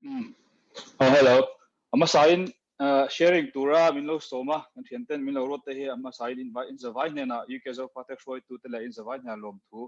Umm aw hello a hmasa in sharing tura min lo sawm a kan thian ten min lo rawt te hi a hmasa in invite in zavai hnena UK Zofate hruaitu te leh in zavai hnena lawm thu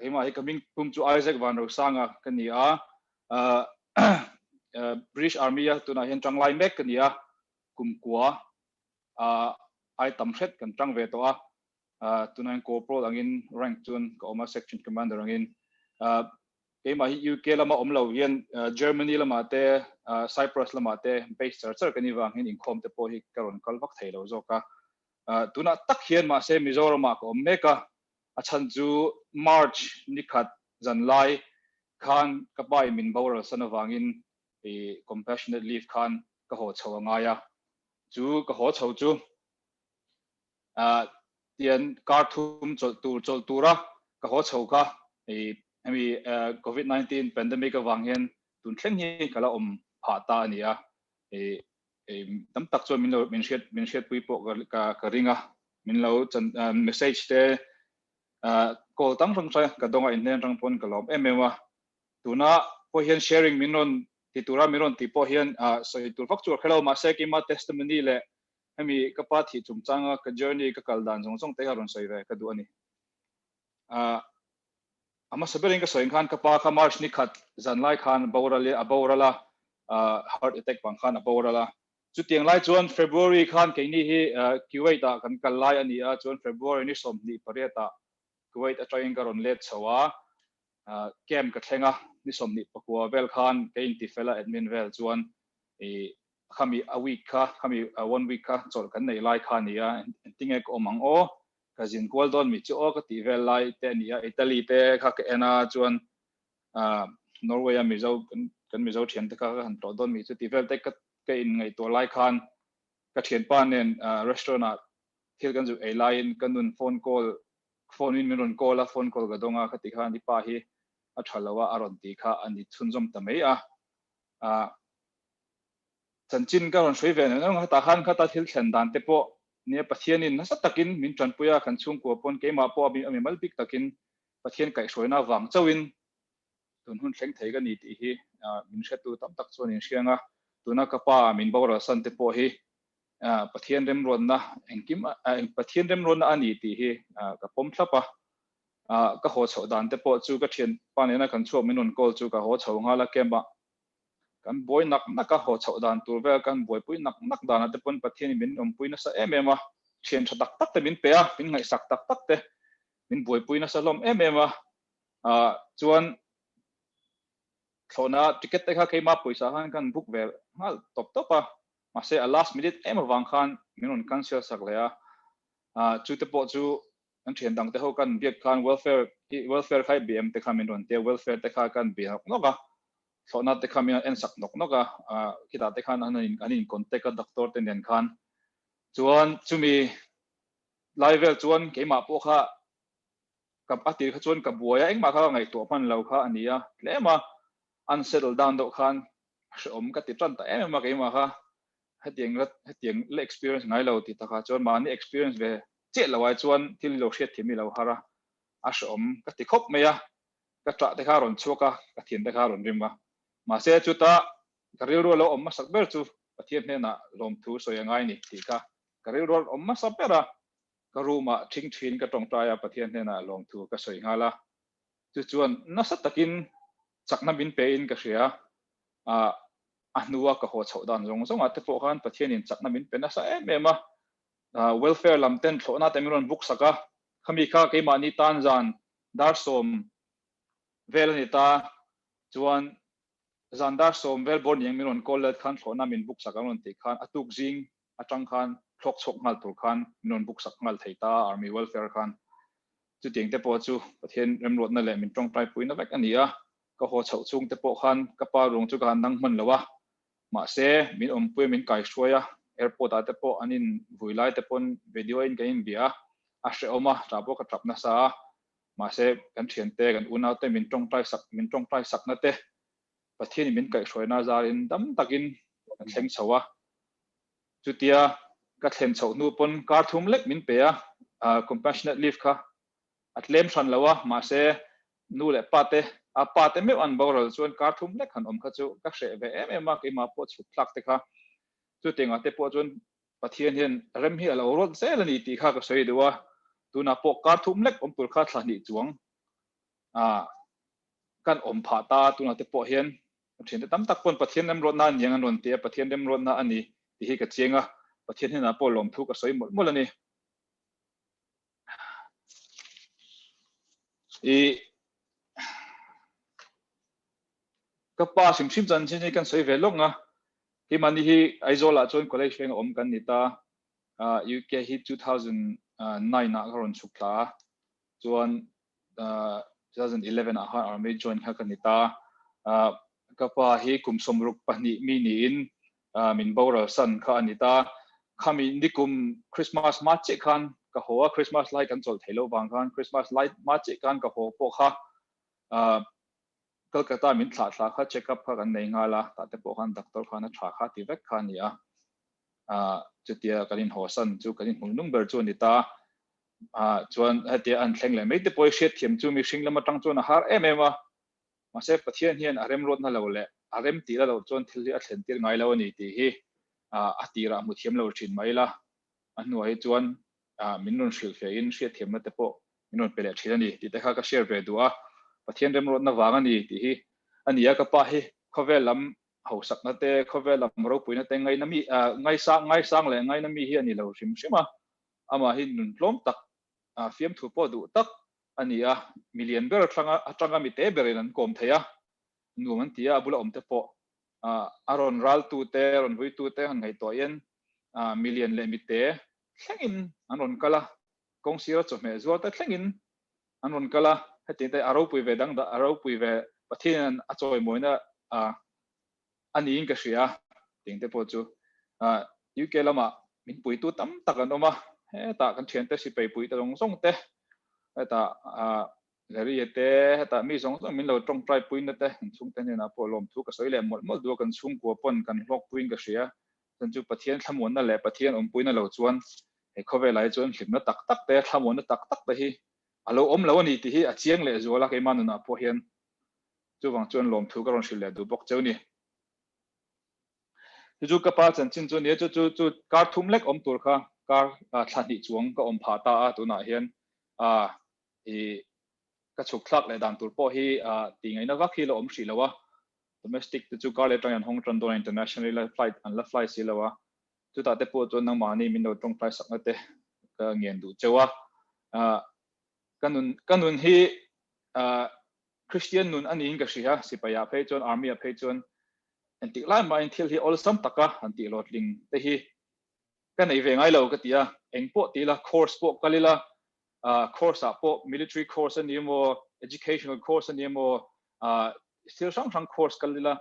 keimah hi ka ming tum chu Isaac Vanrosanga ka ni a British Army a tunah hian ṭang lai mek ka ni a kumkua a ai tam hret kan ṭang ve tawh a tunah hian corporal angin rank chuan ka awm a section commander angin keimah hi UK lama awm lo hian Germany lama te Cyprus lama te base char char ka ni vang hian inkhawm te pawh hi ka rawn kal vak thei lo zawk a tunah tak hian mahse Mizoram ah ka awm mek a A chhan chu March ni khat zan lai khan ka pa-i min boral san avangin i compassionate leave khan ka haw chho a ngai a. Chu ka haw chho chu ah tian kar thum chawlh tur chawlh tura ka haw chho kha i hemi ah covid nineteen pandemic avang hian tun thleng hi ka la awm phah ta a nia. I Hei tam tak chuan min lo min hriat min hriat pui pawh ka ka ring a min lo chan message te call tam hrang hrang ka donga inhlen rang pawn ka lawm em em a tuna pawh hian sharing min rawn ti tura min rawn ti pawh hian sawi tur vak chu hello mahse ki ma testimony le hemi ka pa thi chungchanga ka journey ka kal dan zawng zawng te hi a rawn sawi ve ka duh a ni ah a hmasa berin ka sawi ang khan ka pa kha march ni khat zan lai khan boral a boral a ah heart attack vang khan a boral a chutiang lai chuan february khan keini hi kuwait ah kan kal lai ania chuan february ni sawmhnih pariat ah kuwait atangin ka rawn let chho a ah camp ka thleng a ni sawmhnih pakua vel khan ka inti fel a admin vel chuan i khami a week kha khami one week kha chawlh kan nei lai kha ania engtinge ka awm ang aw Ka zin kual dawn mi chu aw ka tih vel lai te a ni a, Italy te kha ka en a chuan Norway a Mizo kan Mizo thian te kha ka han tlawh dawn mi chu tih vel te ka in ngaihtuah lai khan ka thianpa nen restaurant ah thil kan zirh ei lai in ka nun phone call phone in min rawn call a phone call ka dawng a khati khan i pa hi a tha lo a a rawn tih kha a ni chhunzawm ta mai a. Chanchin ka rawn hruai ve neuh neuh hetah khan khata thil thlen dan te pawh nia Pathianin nasa takin min tanpui a, kan chhungkua pawn keimah pawh a mi mal bik takin Pathian kaihhruaina avang chauhin tun hun thleng thei ka ni tih hi min hretu tam tak chuan in hriang a, tuna ka pa min boral san te pawh hi Pathian remruatna engkim Pathian remruatna a ni tih hi ka pawm thlap a, ka haw chhoh dan te pawh chu ka thianpa nena kan chhuak min rawn call chu ka haw chho nghal a, camp ah Kan buai nak naka haw chhoh dan tur vel kan buaipui nak nak danah te pawn Pathianin min awmpui nasa em em a, thian tha tak tak te min pe a, min ngaihsak tak tak te min buaipui nasa hlawm em em a, ah chuan thlawhna ticket te kha keima pawisa khan kan book ve nghal tawp tawp a, mahse a last minute em avang khan min rawn cancel sak leh a, ah chu te pawh chu Kan thian dangte ho kan biak khan welfare hi welfare kha i bih em te kha min rawn ti a, welfare te kha kan bih nawk nawk a, thlawhna te kha min rawn en sak nawk nawk a, khitah te khan an in contact a doctor te nen khan, chuan chumi lai vel chuan keimah pawh kha a tir kha chuan ka buai a, engmah kha ka ngaihtuah hman lo kha a ni a, tlem a, an settle dan deuh khan a hreawm ka ti tan ta em em a keimah kha, hetiang la hetiang la experience ngai lo tih takah chuan mahni experience ve chiah lo ai chuan thil hi lo hriat thiam i lo har a a hrawm ka ti khawp mai a ka ṭah te kha rawn chhuak a ka thian te kha rawn rim a mahse chuta ka rilru a lo awm hmasak ber chu Pathian hnenah lawmthu sawi a ngai ni tih kha ka rilru awm hmasa ber a ka room ah ṭhing ṭhin ka ṭawngṭai a Pathian hnenah lawmthu ka sawi nghal a Chu chuan nasa takin chakna min pe in ka hria a, a hnua ka haw chhoh dan zawng zawng ah te pawh khan Pathian in chakna min pe nasa em em a, welfare lam ten thlawh na te min rawn buk sak a, khami kha keimahni tan zan dar sawm vel a ni ta chuan zan dar sawm vel bawr niang min rawn call let khan thlawh na min buk sak ang rawn tih khan a tuk zing atang khan thlawk chhuak nghal tur khan min rawn buk sak nghal thei ta a Army Welfare khan. Chutiang te pawh chu Pathian remruatna leh min tawngtai puina vek a ni a, ka haw chhoh chhung te pawh khan ka pa ruang chu ka han dang hman lo a, mahse min awmpuia min kai hruai a, Airport ah te pawh an in vui lai te pawn video in kan in bia a, a hrehawm a tah pawh ka tap nasa a, mahse kan thiante kan unau te min tawngtai sak min tawngtai sakna te Pathianin min kaihhruaina zârin dam takin ka thleng chho a. Chutia ka thlen chhoh hnu pawn kâr thum lek min pe a, compassionate leave kha a claim hran lo a, mahse nu leh pate, a pate meuh an boral chuan kâr thum lek han awm kha chu ka hreh ve em em a, keimah pawh chhuk thlak te kha. Chutianga te pawh chuan Pathian hian rem hi a lo rawt zel a ni tih kha ka sawi duh a, tunah pawh kâr thum lek awm tur kha thla hnih chuang ah kan awm phah ta a, tunah te pawh hian a thiante tam tak pawn Pathian remrawtna aniang an rawn ti a, Pathian remrawtna a ni tih hi ka chiang a, Pathian hnenah pawh lawm thu ka sawi mawlh mawlh a ni. I ka pa hrim hrim chuan chin hi kan sawi ve lawng a, hi mahni hi Aizawlah chuan college reng a awm kan ni ta, UK hi two thousand nine ah ka rawn chhuk thla a, chuan 2011 ah khan army join kha ka ni ta ka pa hi kum somruk pahnih mi ni in min boral san kha ani ta khami nikum christmas ma che khan ka ho a christmas lai kan chol thelo wang khan christmas lai ma che khan ka ho po kha Calcutta min thlah thla kha check up kha kan nei nghal a, tah te pawh khan doctor khan a tha kha ti vek kha a ni a, ah chutia kan inhaw san chu kan inhmui nung ber chu a ni ta, ah chuan hetia an thleng leh mai te pawh i hriat thiam chu mihring lam atang chuan a har em em a, mahse Pathian hian a remruat na lo leh a rem tih la loh chuan thil hi a thlen tir ngai lo a ni tih hi ah a tirah a hmu thiam lo thin mai ila, a hnuai hi chuan ah min rawn hrilh hle in hriatthiamna te pawh min rawn pe leh thin a ni tih te kha ka share ve duh a, Pathian remrawtna vang a ni tih hi a ni a, ka pa hi khawvel lam hausakna te, khawvel lam ropuina te ngaina mi ah ngaisa ngaisang leh ngaina mi hi a ni lo hrim hrim a, amah hi nun hlawm tak ah fiamthu pawh duh tak a ni a, mi lian ber thlanga atanga mi te ber in an kawm thei a, nuam an ti a, a bula awm te pawh ah a rawn raltu te rawn vuitu te han ngaihtuah in ah mi lian leh mi te thlengin an rawn kal a, kawng sira chawhmeh zual ta thlengin an rawn kal a, hetiang te a ropui ve dang dah a ropui ve, Pathian a chawimawina a niin ka hria tih te pawh chu UK lamah min puitu tam tak an awm a, hetah kan thiante sipai pui te zawng zawng te, hetah Leria te, hetah mi zawng zawng min lo tawngtai puina te, inchhungte hnenah pawh lawmthu ka sawi leh mawlh mawlh duh a, kan chhungkua pawn kan hlawk puiin ka hria, Chuan chu Pathian thlamuanna leh Pathian awmpuina lo chuan he khawvelai chu enhlimna tak tak te, thlamuanna tak tak te hi a lo awm lo a ni tih hi a chiang leh zual a, keimah nunah pawh hian chuvang chuan lawmthu ka rawn hrilh leh duh bawk cheu ni. Chu chu ka pa chanchin chu a nia, chu chu chu kar thum lek awm tur kha kar thla hnih chuang ka awm phah ta a, tunah hian ka chhuk thlak leh dan tur pawh hi ti ngaina vak hi la awm hrih lo a, Domestic te chu kar leh tang in an hawng tan dawn a, internationally la flight an la fly si lo a, chutah te pawh chuan nangmahni min lo tawngtai sakna te ka ngen duh cheu a, ah ka nun ka nun hi ah Christian nun a niin ka hria a, sipaia phei chuan army-a phei chuan engtik lai mahin thil hi awlsam taka an tih lo tling te hi Ka nei ve ngai lo ka ti a, eng pawh ti ila, course pawh kal ila, ah course ah pawh military course a ni emaw, educational course a ni emaw, ah thil hrang hrang course kal ila,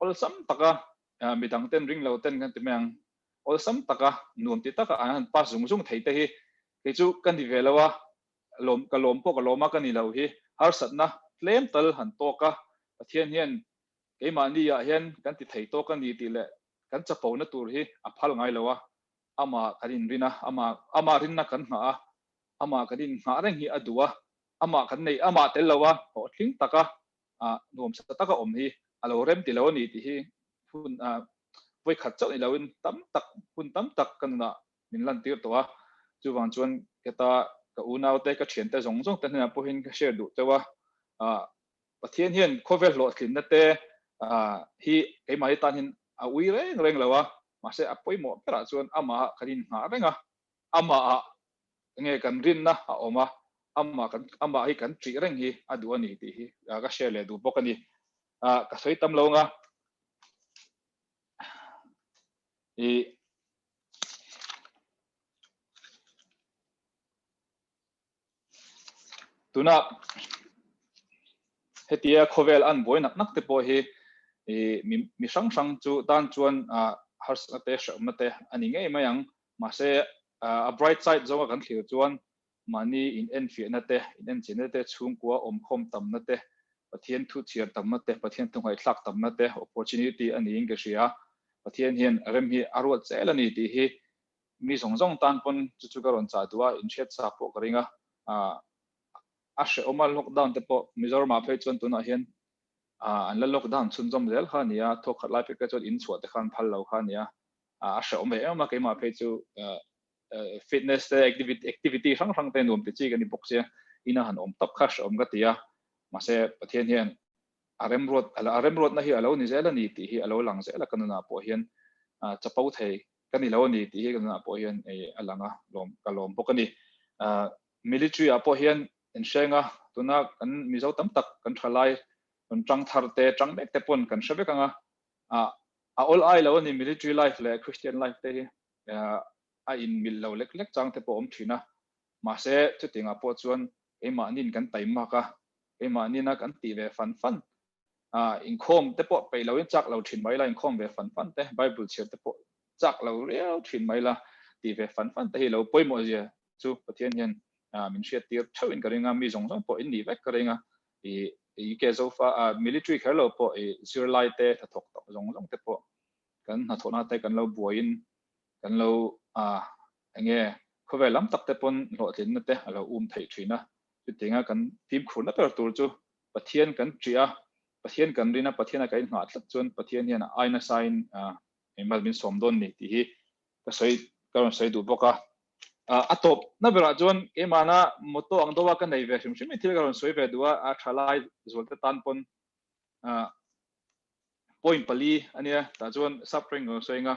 awlsam taka mi dang ten ring lo ten kan ti mai ang, awlsam taka nuam ti taka an han pass zung zung thei te hi kei chu ka ni ve lo a, lawm ka lawm pawh ka lawm a ka ni lo hi harsatna tlem tal han tawk a, Pathian hian Keimahniah hian kan ti thei tawk a ni tih leh kan chapona tur hi a phal ngai lo a, amah kan inrin a, amah rinna kan nghah a, amah kan inngah reng hi a duh a, amah kan neih amah tel lo a, hawhhling taka nuamsa taka awm hi a lo rem ti lo a ni tih hi hun vawikhat chauh nih loin tam tak, hun tam tak ka nunah min lantir tawh a, chuvang chuan heta ka unaute, ka thiante zawng zawngte hnenah pawhin ka share duh teuh a, Pathian hian khawvel hlawhtlinna te hi keimahni tanin a ui reng reng lo a, mahse a pawimawh berah chuan Amah kan inngah reng a, Amahah enge kan rinna a awm a, Amah kan Amah hi kan ṭih reng hi a duh a ni tih hi ka share leh duh bawk a ni. Ka sawi tam lo nga i tuna hetia khawvel an buai nak nak te pawh hi i mi mi hrang hrang chu tan chuan a harsna te hrehawmna te ani ngei mai ang mahse a bright side zonga kan thlir chuan mahni in en fiahna te in en chinna te chhungkua awmkhawm tamna te pathian thu chhiar tamna te pathian thu ngai thlak tamna te opportunity ani in ka hria pathian hian rem hi a ruat zel ani tih hi Mi zawng zawng tan pawn chu chu ka rawn chah duh a, inhriat chak pawh ka ring a. Ahh a hrehawm a, lockdown te pawh Mizoramah phei chuan tunah hian ahh an la lockdown chhunzawm zel kha a ni a, thawk khat lai phei kha chuan in chhuah te kha an phal lo kha a ni a. Ahh a hrehawm ve em em a, keimah phei chu ahh fitness te, activity hrang hrang te nuam tih chi ka ni bawk che, ina han awm tak kha hrehawm ka ti a, mahse Pathian hian a remruat a remruatna hi a lo ni zel a ni tih hi a lo lang zel a ka nunah pawh hian chapo thei Ka ni lo a ni tih hi ka nunah pawh hian ei a lang a, lawm ka lawm bawk a ni. Military ah pawh hian kan hreng a, tuna kan Mizo tam tak kan tha lai rawn tang thar te, tang mek te pawn kan hre vek ang a, a awl ai lo a ni military life leh Christian life te hi, a in milh lo lek lek chang te pawh a awm thin a, mahse chuting ah pawh chuan keimahni in kan taimmak a, keimahni in a kan tih ve fan fan Ah, inkhawm te pawh peih loin chak lo thin mai la, inkhawm ve fan fan te, Bible chhiar te pawh chak lo riau thin mai la, tih ve fan fan te hi lo pawimawhzia chu Pathian hian min hriattir theuhin ka ring a, mi zawng zawng pawh innih vek ka ring a, i UK Zofa military kher lo pawh i zirlai te hnathawk tawh zawng zawng te pawh kan hnathawk nate kan lo buaiin kan lo Enge khawvel lam tak te pawn hlawhtlinna te a lo um theih thin a, chutianga kan fimkhurna ber tur chu Pathian kan ṭih a, Pathian kan rin a, Pathian a kan inhngah tlat chuan Pathian hian a aina saiin eng mal min sawm dawn ni tih hi ka sawi ka rawn sawi duh bawk a. A tawpna berah chuan keimahna motto ang deuha ka nei ve hrim hrim i thil ka rawn sawi ve duh a, a ṭha lai zualte tan pawn point pali a nia tah chuan subtract ka rawn sawi anga.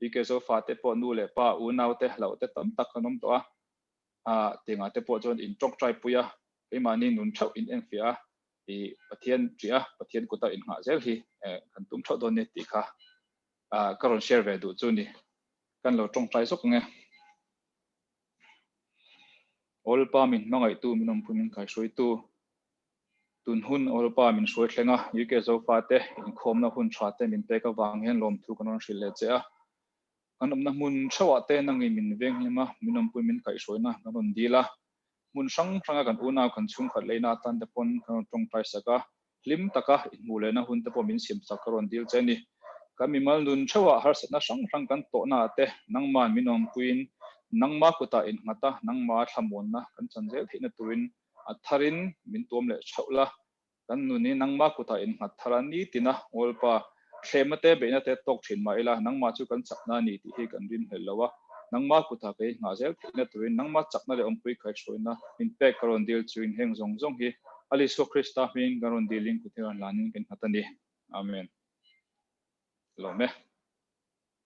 PK Zo fate pawh nu leh pa, unau te, hlauh te tam tak an awm tawh a, aa Tengah te pawh chuan in tawk ṭai pui a, keimahni nun theuh in en fiah a, i Pathian ṭih a, Pathian kuta in nghah zel hi kan tum theuh dawn ni tih kha ka rawn share ve duh chu ni, kan lo ṭawng ṭai zawk ang e. All pa min hmangaihtu, min awmpui min kaihruaitu, Tun hun Europa min hruai thleng a, UK Zofa te, inkhawmna hun tha te min pek avang hian lawmthu kan rawn hrilh leh che a. Kan awmna hmun theuhah te na ngei min veng hlim a, min awmpui min kaihhruaina kan rawn dil a, hmun hrang hranga kan unau kan chhungkhat leina atan te pawn kan rawn tawngtai sak a, hlim taka inhmuh lehna hun te pawh min siam sak ka rawn dil che ni. Kan mimal nun theuhah harsatna hrang hrang kan tawhna ah te nangman min awmpuiin nangma kutah innghat a, nangmaa thlamuanna kan chanzel theihna turin A thar in min tuam leh chauh la, kan nu nih nangma kutah in nghat thar a ni tina Ngawlpa thlema te beihna te tawk thin mah ila nangma chu kan chakna a ni tih hi kan rin hmel lo a. Nangma kutah kei nghah zel theihna turin nangma chakna leh awmpuii kaihhruaina min pek ka rawn dil chu inheng zawng zawng hi a Lisua Krista hmingin kan rawn dil in kuthiran lanin kan nghat a ni. Amen. Hlome.